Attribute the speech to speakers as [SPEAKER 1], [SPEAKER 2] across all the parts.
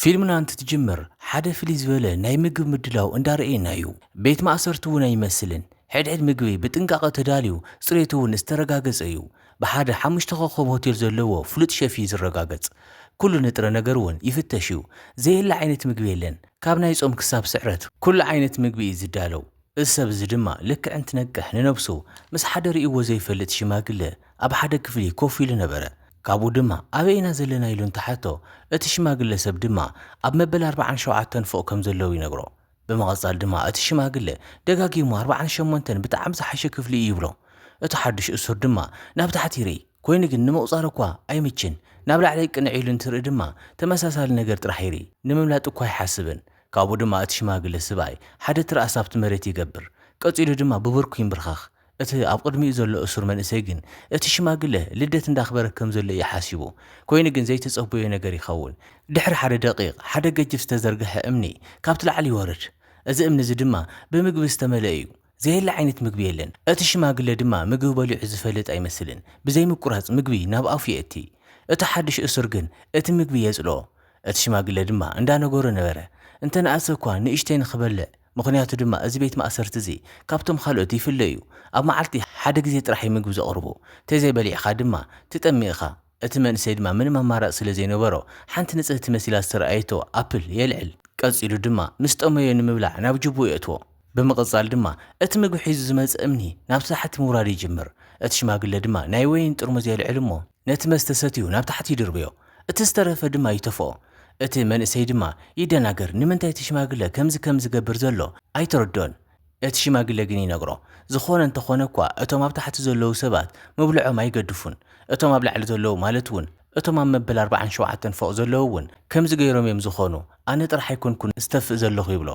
[SPEAKER 1] ፊልምና እንትትጅምር ሓደ ፍልይ ዝበለ ናይ ምግብ ምድላው እንዳረኤና እዩ ቤት ማእሰርቲ እውን ኣይመስልን ሕድሕድ ምግቢ ብጥንቃቀ ተዳልዩ ፅሬቱ እውን ዝተረጋገፀ እዩ ብሓደ ሓሙሽተ ኮኾብ ሆቴል ዘለዎ ፍሉጥ ሸፍ እዩ ዝረጋገፅ ኩሉ ንጥረ ነገር እውን ይፍተሽ እዩ ዘየለ ዓይነት ምግቢ የለን ካብ ናይ ፆም ክሳብ ስዕረት ኩሉ ዓይነት ምግቢ እዩ ዝዳለው እዚ ሰብ እዚ ድማ ልክዕ እንትነቅሕ ንነብሱ ምስ ሓደ ርእይዎ ዘይፈልጥ ሽማግለ ኣብ ሓደ ክፍሊ ኮፍ ኢሉ ነበረ። ካብኡ ድማ ኣበይ ኢና ዘለና ኢሉ እንተሓቶ እቲ ሽማግለ ሰብ ድማ ኣብ መበል ኣርብዓን ሸውዓተን ፎቕ ከም ዘለዉ ይነግሮ። ብምቐጻል ድማ እቲ ሽማግለ ደጋጊሙ ኣርብዓን ሸሞንተን ብጣዕሚ ዝሓሸ ክፍሊ እዩ ይብሎ። እቲ ሓዱሽ እሱር ድማ ናብ ታሕቲ ይርኢ። ኮይኑ ግን ንምቑጻር እኳ ኣይምችን። ናብ ላዕሊ ቅንዕ ኢሉ እንትርኢ ድማ ተመሳሳሊ ነገር ጥራሕ ይርኢ። ንምምላጥ እኳ ኣይሓስብን። ካብኡ ድማ እቲ ሽማግለ ስብኣይ ሓደ ትርኣስ ኣብቲ መሬት ይገብር። ቀጺሉ ድማ ብብርኩ ይምብርኸኽ። እቲ ኣብ ቕድሚኡ ዘሎ እሱር መንእሰይ ግን እቲ ሽማግለ ልደት እንዳኽበረ ከም ዘሎ እዩ ሓሲቡ። ኮይኑ ግን ዘይተጸበዮ ነገር ይኸውን። ድሕሪ ሓደ ደቒቕ ሓደ ገጅፍ ዝተዘርገሐ እምኒ ካብቲ ላዕሊ ይወርድ። እዚ እምኒ እዚ ድማ ብምግቢ ዝተመልአ እዩ። ዘየለ ዓይነት ምግቢ የለን። እቲ ሽማግለ ድማ ምግቢ በሊዑ ዝፈልጥ ኣይመስልን። ብዘይምቁራጽ ምግቢ ናብ ኣፉ የእቲ። እቲ ሓድሽ እሱር ግን እቲ ምግቢ የጽልኦ። እቲ ሽማግለ ድማ እንዳነገሮ ነበረ፣ እንተ ነኣሰ እኳ ንእሽተይ ንኽበልዕ፣ ምኽንያቱ ድማ እዚ ቤት ማእሰርቲ እዚ ካብቶም ኻልኦት ይፍለ እዩ፣ ኣብ መዓልቲ ሓደ ግዜ ጥራሕ እዩ ምግቢ ዘቕርቡ፣ ተዘይበሊዕኻ ድማ ትጠሚ እኻ። እቲ መንእሰይ ድማ ምንም ኣማራጺ ስለ ዘይነበሮ፣ ሓንቲ ንጽህቲ መሲላ ዝተራእየቶ ኣፕል የልዕል። ቀጺሉ ድማ ምስ ጠመዮ ንምብላዕ ናብ ጁብኡ የእትዎ። ብምቕጻል ድማ እቲ ምግቢ ሒዙ ዝመጸ እምኒ ናብ ታሕቲ ምውራድ ይጅምር። እቲ ሽማግለ ድማ ናይ ወይን ጥርሙዝ የልዕል እሞ ነቲ መስተ ሰትዩ ናብ ታሕቲ ይድርብዮ። እቲ ዝተረፈ ድማ ይተፍኦ። እቲ መንእሰይ ድማ ይደናገር ንምንታይ እቲ ሽማግለ ከምዚ ከም ዝገብር ዘሎ ኣይተረድኦን። እቲ ሽማግለ ግን ይነግሮ፣ ዝዀነ እንተ ዀነ እኳ፣ እቶም ኣብ ታሕቲ ዘለዉ ሰባት መብልዖም ኣይገድፉን። እቶም ኣብ ላዕሊ ዘለዉ፣ ማለት እውን እቶም ኣብ መበል ኣርብዓን ሸውዓተን ፎቕ ዘለዉ እውን ከምዚ ገይሮም እዮም ዝዀኑ። ኣነ ጥራሕ ኣይኰንኩን ዝተፍእ ዘለኹ ይብሎ።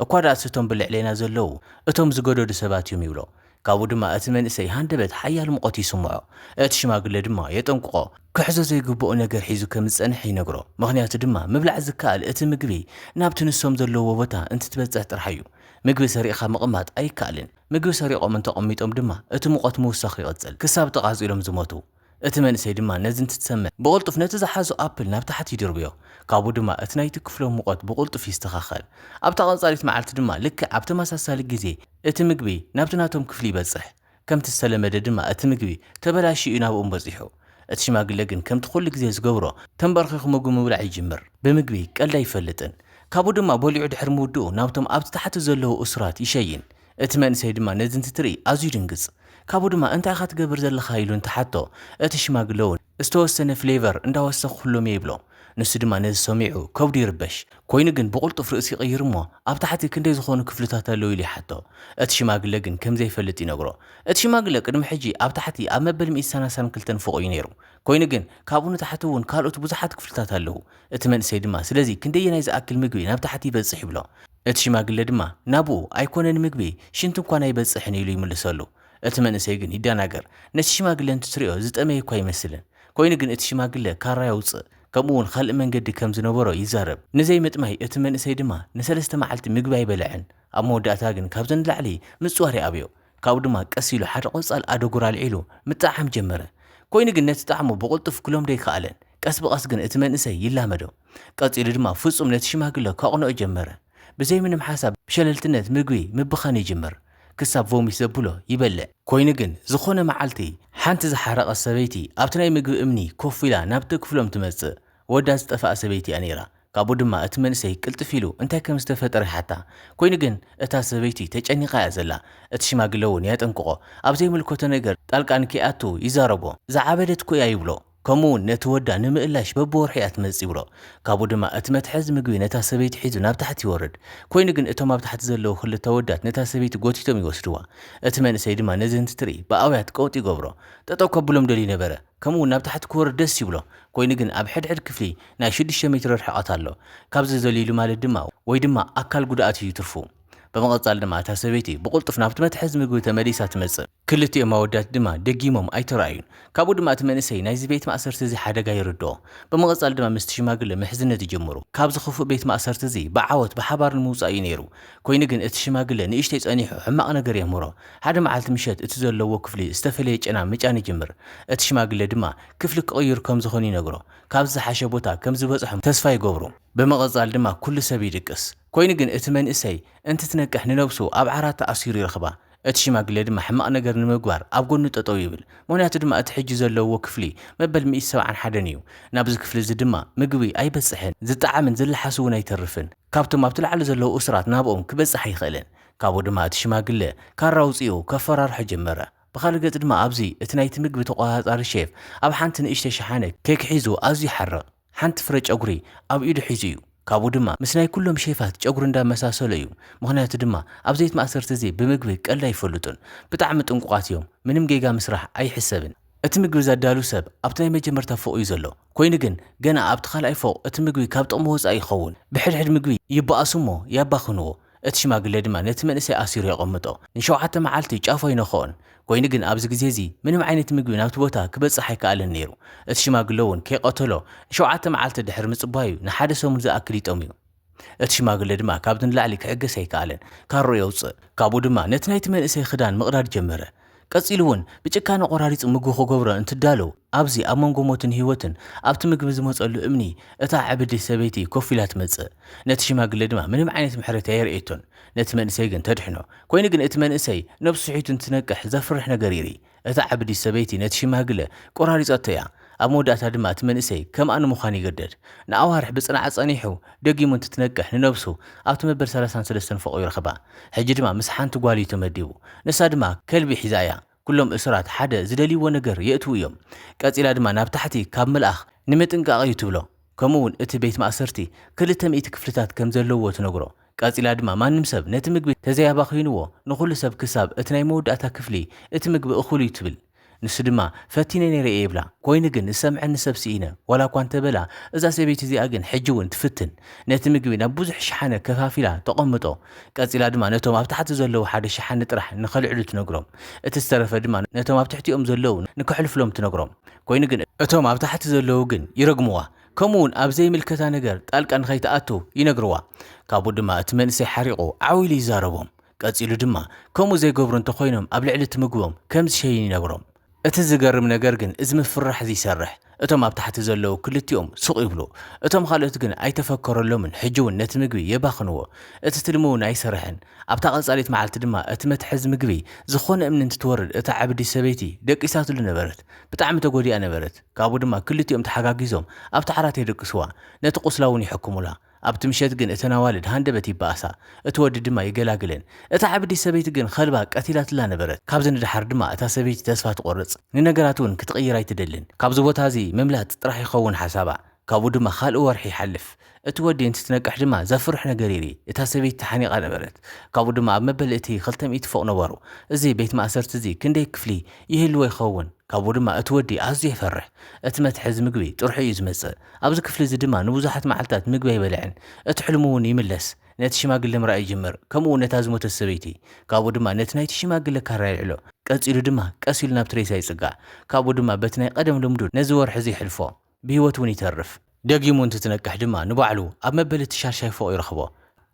[SPEAKER 1] እኳ ደኣስ እቶም ብልዕሌና ዘለዉ፣ እቶም ዝገደዱ ሰባት እዮም ይብሎ። ካብኡ ድማ እቲ መንእሰይ ሃንደበት ሓያል ሙቐት ይስምዖ። እቲ ሽማግለ ድማ የጠንቅቖ፣ ክሕዞ ዘይግብኦ ነገር ሒዙ ከም ዝጸንሐ ይነግሮ። ምኽንያቱ ድማ ምብላዕ ዝከኣል እቲ ምግቢ ናብቲ ንሶም ዘለዉዎ ቦታ እንትትበጽሕ ጥራሕ እዩ። ምግቢ ሰሪቕካ ምቕማጥ ኣይከኣልን። ምግቢ ሰሪቖም እንተቐሚጦም ድማ እቲ ሙቐት ምውሳኹ ይቕጽል፣ ክሳብ ተቓጺሎም ዝሞቱ። እቲ መንእሰይ ድማ ነዚ እንትትሰምዕ ብቕልጡፍ ነቲ ዝሓዞ ኣፕል ናብ ታሕቲ ይድርብዮ፣ ካብኡ ድማ እቲ ናይቲ ክፍሎም ሙቐት ብቕልጡፍ ይስተኻኸል። ኣብታ ቀጻሊት መዓልቲ ድማ ልክዕ ኣብ ተመሳሳሊ ግዜ እቲ ምግቢ ናብቲ ናቶም ክፍሊ ይበጽሕ። ከምቲ ዝተለመደ ድማ እቲ ምግቢ ተበላሽዩ እዩ ናብኦም በጺሑ። እቲ ሽማግለ ግን ከምቲ ኩሉ ግዜ ዝገብሮ ተምበርኺኹ ምግቡ ምብላዕ ይጅምር። ብምግቢ ቀልዲ ኣይፈልጥን። ካብኡ ድማ በሊዑ ድሕሪ ምውድኡ ናብቶም ኣብቲ ታሕቲ ዘለዉ እሱራት ይሸይን። እቲ መንእሰይ ድማ ነዚ እንትትርኢ ኣዝዩ ይድንግጽ። ካብኡ ድማ እንታይ ኢኻ ትገብር ዘለኻ ኢሉ እንትሓቶ እቲ ሽማግለ'ውን። ዝተወሰነ ፍሌቨር እንዳወሰኽኩሎም እየ ይብሎ። ንሱ ድማ ነዚ ሰሚዑ ከብዱ ይርበሽ። ኮይኑ ግን ብቕልጡፍ ርእሲ ይቕይር እሞ ኣብ ታሕቲ ክንደይ ዝኾኑ ክፍልታት ኣለው ኢሉ ይሓቶ። እቲ ሽማግለ ግን ከም ዘይፈልጥ ይነግሮ። እቲ ሽማግለ ቅድሚ ሕጂ ኣብ ታሕቲ ኣብ መበል ሚእቲ ሳናሳን ክልተን ፎቕ እዩ ነይሩ። ኮይኑ ግን ካብኡ ንታሕቲ እውን ካልኦት ብዙሓት ክፍልታት ኣለው። እቲ መንእሰይ ድማ ስለዚ ክንደየናይ ዝኣክል ምግቢ ናብ ታሕቲ ይበጽሕ ይብሎ። እቲ ሽማግለ ድማ ናብኡ ኣይኮነን ምግቢ ሽንቲ እንኳን ኣይበጽሕን ኢሉ ይምልሰሉ። እቲ መንእሰይ ግን ይደናገር። ነቲ ሽማግለ እንትትሪኦ ዝጠመየ'ኳ ኣይመስልን። ኮይኑ ግን እቲ ሽማግለ ካራ የውጽእ ከምኡ'ውን ኻልእ መንገዲ ከም ዝነበሮ ይዛረብ። ንዘይምጥማይ እቲ መንእሰይ ድማ ንሰለስተ መዓልቲ ምግቢ ኣይበልዐን። ኣብ መወዳእታ ግን ካብዚ ንላዕሊ ምጽዋር ይኣብዮ። ካብኡ ድማ ቀስ ኢሉ ሓደ ቆጻል ኣደጉር ኣልዒሉ ምጥዕዓም ጀመረ። ኮይኑ ግን ነቲ ጣዕሙ ብቕልጡፍ ክለምዶ ኣይከኣለን። ቀስ ብቐስ ግን እቲ መንእሰይ ይላመዶ። ቀጺሉ ድማ ፍጹም ነቲ ሽማግለ ከቕንኦ ጀመረ። ብዘይምንም ሓሳብ ብሸለልትነት ምግቢ ምብኻን ይጅምር። ክሳብ ቮሚት ዘብሎ ይበልዕ። ኮይኑ ግን ዝኾነ መዓልቲ ሓንቲ ዝሓረቐት ሰበይቲ ኣብቲ ናይ ምግቢ እምኒ ኮፍ ኢላ ናብቲ ክፍሎም ትመጽእ። ወዳ ዝጠፍኣ ሰበይቲ እያ ነይራ። ካብኡ ድማ እቲ መንእሰይ ቅልጥፍ ኢሉ እንታይ ከም ዝተፈጠረ ይሓታ። ኮይኑ ግን እታ ሰበይቲ ተጨኒቓ እያ ዘላ። እቲ ሽማግለ'ውን የጠንቅቖ። ኣብ ዘይምልከቶ ነገር ጣልቃ ንከይኣቱ ይዛረቦ። ዝዓበደት'ኮ እያ ይብሎ። ከምኡ ውን ነቲ ወዳ ንምእላሽ በብወርሑ እያ ትመጽእ ይብሎ። ካብኡ ድማ እቲ መትሓዚ ምግቢ ነታ ሰበይቲ ሒዙ ናብ ታሕቲ ይወርድ። ኮይኑ ግን እቶም ኣብ ታሕቲ ዘለዉ ክልተ ኣወዳት ነታ ሰበይቲ ጎቲቶም ይወስድዋ። እቲ መንእሰይ ድማ ነዚ እንትትርኢ ብኣውያት ቀውጢ ይገብሮ። ጠጠው ከብሎም ደልዩ ነበረ። ከምኡ ውን ናብ ታሕቲ ክወርድ ደስ ይብሎ። ኮይኑ ግን ኣብ ሕድሕድ ክፍሊ ናይ ሽዱሽተ ሜትሮ ርሕቐት ኣሎ። ካብዚ ዘሊሉ ማለት ድማ ወይ ድማ ኣካል ጉድኣት እዩ ትርፉ። ብምቕጻል ድማ እታ ሰበይቲ ብቕልጡፍ ናብቲ መትሓዚ ምግቢ ተመሊሳ ትመጽእ። ክልቲኦም ኣወዳት ድማ ደጊሞም ኣይተራእዩን። ካብኡ ድማ እቲ መንእሰይ ናይዚ ቤት ማእሰርቲ እዚ ሓደጋ ይርድኦ። ብምቕጻል ድማ ምስቲ ሽማግለ ምሕዝነት ይጅምሩ። ካብዚ ክፉእ ቤት ማእሰርቲ እዚ ብዓወት ብሓባር ንምውጻእ እዩ ነይሩ። ኮይኑ ግን እቲ ሽማግለ ንእሽተይ ጸኒሑ ሕማቕ ነገር የምህሮ። ሓደ መዓልቲ ምሸት እቲ ዘለዎ ክፍሊ ዝተፈለየ ጨና ምጫን ይጅምር። እቲ ሽማግለ ድማ ክፍሊ ክቕይሩ ከም ዝኾኑ ይነግሮ። ካብዚ ዝሓሸ ቦታ ከም ዝበጽሑ ተስፋ ይገብሩ። ብምቕጻል ድማ ኩሉ ሰብ ይድቅስ። ኮይኑ ግን እቲ መንእሰይ እንትትነቅሕ ንነብሱ ኣብ ዓራት ተኣሲሩ ይረኽባ። እቲ ሽማግሌ ድማ ሕማቕ ነገር ንምግባር ኣብ ጎኑ ጠጠው ይብል። ምኽንያቱ ድማ እቲ ሕጂ ዘለውዎ ክፍሊ መበል ሚእቲ ሰብዓን ሓደን እዩ። ናብዚ ክፍሊ እዚ ድማ ምግቢ ኣይበጽሕን፣ ዝጠዓምን ዝለሓስ እውን ኣይተርፍን። ካብቶም ኣብቲ ላዕሊ ዘለዉ እሱራት ናብኦም ክበጽሕ ኣይኽእልን። ካብኡ ድማ እቲ ሽማግለ ካራ ኣውጺኡ ከፈራርሖ ጀመረ። ብኻልእ ገጽ ድማ ኣብዚ እቲ ናይቲ ምግቢ ተቖጻጻሪ ሼፍ ኣብ ሓንቲ ንእሽተይ ሸሓነ ኬክ ሒዙ ኣዝዩ ይሓርቕ። ሓንቲ ፍረ ጨጉሪ ኣብ ኢዱ ሒዙ እዩ። ካብኡ ድማ ምስ ናይ ኩሎም ሼፋት ጨጉሪ እንዳመሳሰሎ እዩ። ምኽንያቱ ድማ ኣብ ዘይት ማእሰርቲ እዚ ብምግቢ ቀልዲ ኣይፈልጡን። ብጣዕሚ ጥንቁቓት እዮም። ምንም ጌጋ ምስራሕ ኣይሕሰብን። እቲ ምግቢ ዘዳሉ ሰብ ኣብቲ ናይ መጀመርታ ፎቕ እዩ ዘሎ። ኮይኑ ግን ገና ኣብቲ ካልኣይ ፎቕ እቲ ምግቢ ካብ ጥቕሚ ወፃኢ ይኸውን። ብሕድሕድ ምግቢ ይባኣሱ እሞ ያባኽንዎ። እቲ ሽማግለ ድማ ነቲ መንእሰይ ኣሲሩ የቐምጦ፣ ንሸውዓተ መዓልቲ ጫፉ ኣይነክኦን። ኰይኑ ግን ኣብዚ ግዜ እዚ ምንም ዓይነት ምግቢ ናብቲ ቦታ ኪበጽሕ ኣይከኣለን ነይሩ። እቲ ሽማግለ እውን ከይቀተሎ ንሸውዓተ መዓልቲ ድሕሪ ምጽባዩ ንሓደ ሰሙን ዝኣክል ይጠምዩ። እቲ ሽማግለ ድማ ካብዚ ንላዕሊ ኪዕገስ ኣይከኣለን። ካራኡ የውጽእ፣ ካብኡ ድማ ነቲ ናይቲ መንእሰይ ኽዳን ምቕዳድ ጀመረ። ቀጺሉ ውን ብጭካነ ቆራሪጹ ምግቢ ክገብሮ እንትዳሎ ኣብዚ ኣብ መንጎ ሞትን ህይወትን ኣብቲ ምግቢ ዝመጸሉ እምኒ እታ ዕብድቲ ሰበይቲ ኮፍ ኢላ ትመጽእ ነቲ ሽማግለ ድማ ምንም ዓይነት ምሕረት ኣየርእየቶን ነቲ መንእሰይ ግን ተድሕኖ ኮይኑ ግን እቲ መንእሰይ ነብሱ ስሒቱ እንትነቅሕ ዘፍርሕ ነገር ይርኢ እታ ዕብድቲ ሰበይቲ ነቲ ሽማግለ ቆራሪጸቶ እያ ኣብ መወዳእታ ድማ እቲ መንእሰይ ከምኣ ንምዃን ይግደድ። ንኣዋርሕ ብጽንዓት ጸኒሑ፣ ደጊሙ እንትትነቅሕ ንነብሱ ኣብቲ መበል ሰላሳን ሰለስተን ፎቕ ይረኽባ። ሕጂ ድማ ምስ ሓንቲ ጓል እዩ ተመዲቡ። ንሳ ድማ ከልቢ ሒዛ እያ። ኩሎም እሱራት ሓደ ዝደልይዎ ነገር የእትዉ እዮም። ቀጺላ ድማ ናብ ታሕቲ ካብ ምልኣኽ ንምጥንቃቕ እዩ ትብሎ። ከምኡ'ውን እቲ ቤት ማእሰርቲ ክልተ ሚእቲ ክፍልታት ከም ዘለዉዎ ትነግሮ። ቀጺላ ድማ ማንም ሰብ ነቲ ምግቢ ተዘይኣባኺንዎ ንኹሉ ሰብ ክሳብ እቲ ናይ መወዳእታ ክፍሊ እቲ ምግቢ እኹል'ዩ ትብል። ንሱ ድማ፣ ፈቲነ ነይረ እየ ይብላ። ኰይኑ ግን፣ ዝሰምዐኒ ሰብ ስኢነ፣ ዋላ እኳ እንተ በላ፣ እዛ ሰበይቲ እዚኣ ግን ሕጂ እውን ትፍትን። ነቲ ምግቢ ናብ ብዙሕ ሸሓነ ከፋፊላ ተቐምጦ። ቀጺላ ድማ ነቶም ኣብ ታሕቲ ዘለዉ ሓደ ሸሓኒ ጥራሕ ንኸልዕሉ ትነግሮም። እቲ ዝተረፈ ድማ ነቶም ኣብ ትሕቲኦም ዘለዉ ንከሕልፉሎም ትነግሮም። ኰይኑ ግን፣ እቶም ኣብ ታሕቲ ዘለዉ ግን ይረግምዋ፣ ከምኡውን ኣብ ዘይምልከታ ነገር ጣልቃ ንኸይትኣቱ ይነግርዋ። ካብኡ ድማ እቲ መንእሰይ ሓሪቑ ዓው ኢሉ ይዛረቦም። ቀጺሉ ድማ፣ ከምኡ ዘይገብሩ እንተ ዀይኖም ኣብ ልዕሊ እቲ ምግቦም ከም ዝሸይን ይነግሮም። እቲ ዝገርም ነገር ግን እዚ ምፍርራሕ እዚ ይሰርሕ። እቶም ኣብ ታሕቲ ዘለዉ ክልቲኦም ሱቕ ይብሉ። እቶም ኻልኦት ግን ኣይተፈከረሎምን፣ ሕጂ እውን ነቲ ምግቢ የባኽንዎ። እቲ ትልሚ እውን ኣይሰርሕን። ኣብታ ቐጻሊት መዓልቲ ድማ እቲ መትሓዚ ምግቢ ዝዀነ እምኒ እንትትወርድ እታ ዓብዲ ሰበይቲ ደቂሳትሉ ነበረት። ብጣዕሚ ተጐዲኣ ነበረት። ካብኡ ድማ ክልቲኦም ተሓጋጊዞም ኣብቲ ዓራት የደቅስዋ፣ ነቲ ቝስላ እውን ይሕክሙላ። ኣብቲ ምሸት ግን እተን ኣዋልድ ሃንደበት ይበኣሳ፣ እቲ ወዲ ድማ ይገላግለን። እታ ዕብዲት ሰበይቲ ግን ኸልባ ቀቲላትላ ነበረት። ካብዚ ንደሓር ድማ እታ ሰበይቲ ተስፋ ትቖርጽ፣ ንነገራት እውን ክትቕይር ኣይትደልን። ካብዚ ቦታ እዚ ምምላጥ ጥራሕ ይኸውን ሓሳባ። ካብኡ ድማ ኻልእ ወርሒ ይሓልፍ። እቲ ወዲ እንትትነቅሕ ድማ ዘፍርሕ ነገር ይርኢ። እታ ሰበይቲ ተሓኒቓ ነበረት። ካብኡ ድማ ኣብ መበል እቲ ኽልተ ሚእቲ ፎቕ ነበሩ። እዚ ቤት ማእሰርቲ እዚ ክንደይ ክፍሊ ይህልዎ ይኸውን? ካብኡ ድማ እቲ ወዲ ኣዝዩ የፈርሕ። እቲ መትሓዚ ምግቢ ጥርሑ እዩ ዝመጽእ። ኣብዚ ክፍሊ እዚ ድማ ንብዙሓት መዓልታት ምግቢ ኣይበልዕን። እቲ ሕልሙ እውን ይምለስ። ነቲ ሽማግለ ምርኣይ ይጅምር፣ ከምኡ እውን ነታ ዝሞተት ሰበይቲ። ካብኡ ድማ ነቲ ናይቲ ሽማግለ ካራ የልዕሎ። ቀጺሉ ድማ ቀስ ኢሉ ናብቲ ሬሳ ይጽጋዕ። ካብኡ ድማ በቲ ናይ ቐደም ልምዱ ነዚ ወርሒ እዚ የሕልፎ። ብህይወት እውን ይተርፍ። ደጊሙ እንትትነቅሕ ድማ ንባዕሉ ኣብ መበል እቲ ሻድሻይ ፎቕ ይረኽቦ።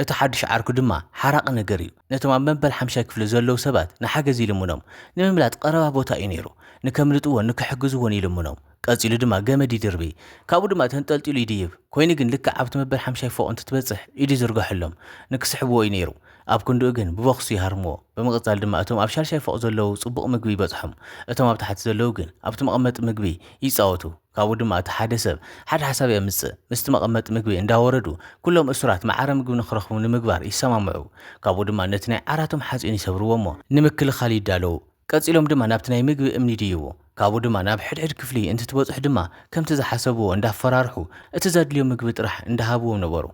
[SPEAKER 1] እቲ ሓድሽ ዓርኩ ድማ ሓራቒ ነገር እዩ። ነቶም ኣብ መበል ሓምሻይ ክፍሊ ዘለዉ ሰባት ንሓገዝ ይልምኖም። ንምምላጥ ቐረባ ቦታ እዩ ነይሩ። ንከምልጥዎን ንክሕግዝዎን ይልምኖም። ቀጺሉ ድማ ገመድ ይድርቢ። ካብኡ ድማ ተንጠልጢሉ ይድይብ። ኰይኑ ግን ልክዕ ኣብቲ መበል ሓምሻይ ፎቕ እንትትበጽሕ ኢዱ ይዝርግሐሎም። ንክስሕብዎ እዩ ነይሩ። ኣብ ክንድኡ ግን ብቦክሱ ይሃርምዎ። ብምቕጻል ድማ እቶም ኣብ ሻልሻይ ፎቕ ዘለዉ ጽቡቕ ምግቢ ይበጽሖም። እቶም ኣብ ታሕቲ ዘለዉ ግን ኣብቲ መቐመጢ ምግቢ ይጻወቱ። ካብኡ ድማ እቲ ሓደ ሰብ ሓደ ሓሳብ የምጽእ፣ ምስቲ መቐመጢ ምግቢ እንዳወረዱ ኩሎም እሱራት መዓረ ምግቢ ንኽረኽቡ ንምግባር ይሰማምዑ። ካብኡ ድማ ነቲ ናይ ዓራቶም ሓጺን ይሰብርዎ'ሞ ንምክልኻል ይዳለዉ። ቀጺሎም ድማ ናብቲ ናይ ምግቢ እምኒ ይድይቡ። ካብኡ ድማ ናብ ሕድሕድ ክፍሊ እንትትበጽሑ ድማ ከምቲ ዝሓሰብዎ እንዳፈራርሑ እቲ ዘድልዮም ምግቢ ጥራሕ እንዳሃብዎም ነበሩ።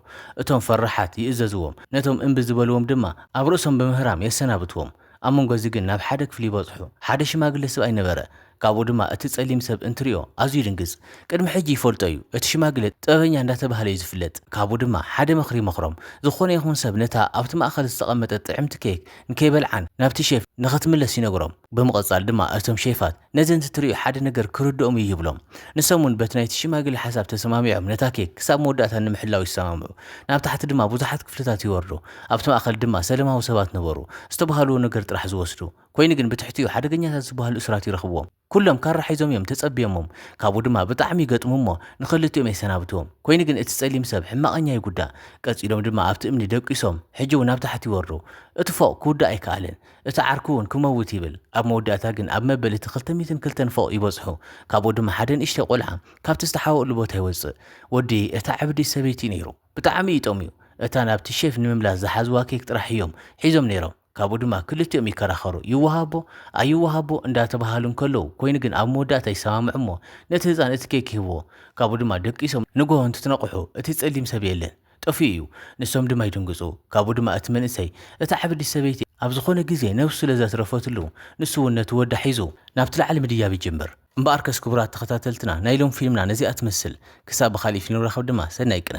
[SPEAKER 1] እቶም ፈራሓት ይእዘዝዎም፣ ነቶም እምቢ ዝበልዎም ድማ ኣብ ርእሶም ብምህራም የሰናብትዎም። ኣብ መንጎ እዚ ግን ናብ ሓደ ክፍሊ በጽሑ። ሓደ ሽማግለ ስብኣይ ነበረ፣ ካብኡ ድማ እቲ ጸሊም ሰብ እንትርእዮ ኣዝዩ ይድንግጽ። ቅድሚ ሕጂ ይፈልጦ እዩ፣ እቲ ሽማግለ ጥበበኛ እንዳተባህለ እዩ ዝፍለጥ። ካብኡ ድማ ሓደ ምኽሪ ይመኽሮም፣ ዝኾነ ይኹን ሰብ ነታ ኣብቲ ማእከል ዝተቐመጠት ጥዕምቲ ኬክ ንከይበልዓን ናብቲ ሼፍ ንኽትምለስ ይነግሮም። ብምቕጻል ድማ እቶም ሼፋት ነዘን ትትርእዩ ሓደ ነገር ክርድኦም እዩ ይብሎም። ንሶም እውን በቲ ናይቲ ሽማግለ ሓሳብ ተሰማሚዖም ነታ ኬክ ክሳብ መወዳእታ ንምሕላው ይሰማምዑ። ናብ ታሕቲ ድማ ብዙሓት ክፍልታት ይወርዱ። ኣብቲ ማእከል ድማ ሰለማዊ ሰባት ነበሩ። ዝተባህልዎ ነገር ጥራሕ ዝወስዱ። ኮይኑ ግን ብትሕቲኡ ሓደገኛታት ዝበሃሉ እሱራት ይረኽብዎም። ኩሎም ካራ ሒዞም እዮም ተጸብዮሞም። ካብኡ ድማ ብጣዕሚ ይገጥሙ እሞ ንኸልቲኦም የሰናብትዎም። ኮይኑ ግን እቲ ጸሊም ሰብ ሕማቐኛ ይጉዳእ። ቀጺሎም ድማ ኣብቲ እምኒ ደቂሶም ሕጂ እውን ናብ ታሕቲ ይወርዱ። እቲ ፎቕ ክውዳእ ኣይከኣለን። እቲ ዓርኩ እውን ክመውት ይብል። ኣብ መወዳእታ ግን ኣብ መበል እቲ ክልተ ሚእትን ክልተን ፎቕ ይበጽሑ። ካብኡ ድማ ሓደ ንእሽተይ ቆልዓ ካብቲ ዝተሓወኡሉ ቦታ ይወጽእ። ወዲ እታ ዕብድቲ ሰበይቲ ነይሩ። ብጣዕሚ እዩ ጠምዩ። እታ ናብቲ ሼፍ ንምምላስ ዝሓዝዋ ኬክ ጥራሕ እዮም ሒዞም ነይሮም። ካብኡ ድማ ክልቲኦም ይከራኸሩ። ይወሃቦ? ኣይወሃቦ? እንዳተበሃሃሉ እንከለዉ ኮይኑ ግን ኣብ መወዳእታ ይሰማምዑ እሞ ነቲ ህጻን እቲ ኬክ ይህብዎ። ካብኡ ድማ ደቂሶም ንግሆ እንትትነቕሑ እቲ ጸሊም ሰብ የለን። ጠፊኡ እዩ። ንሶም ድማ ይድንግጹ። ካብኡ ድማ እቲ መንእሰይ፣ እታ ዓብዲት ሰበይቲ ኣብ ዝኾነ ግዜ ነብሱ ስለ ዘትረፈትሉ፣ ንሱ'ውን ነቲ ወዳ ሒዙ ናብቲ ላዕሊ ምድያብ ይጅምር። እምበኣርከስ ክቡራት ተኸታተልትና ናይ ሎም ፊልምና ነዚኣ ትመስል ክሳብ ብኻሊእ ፊልም ንራኸብ ድማ ሰናይ ቅነ።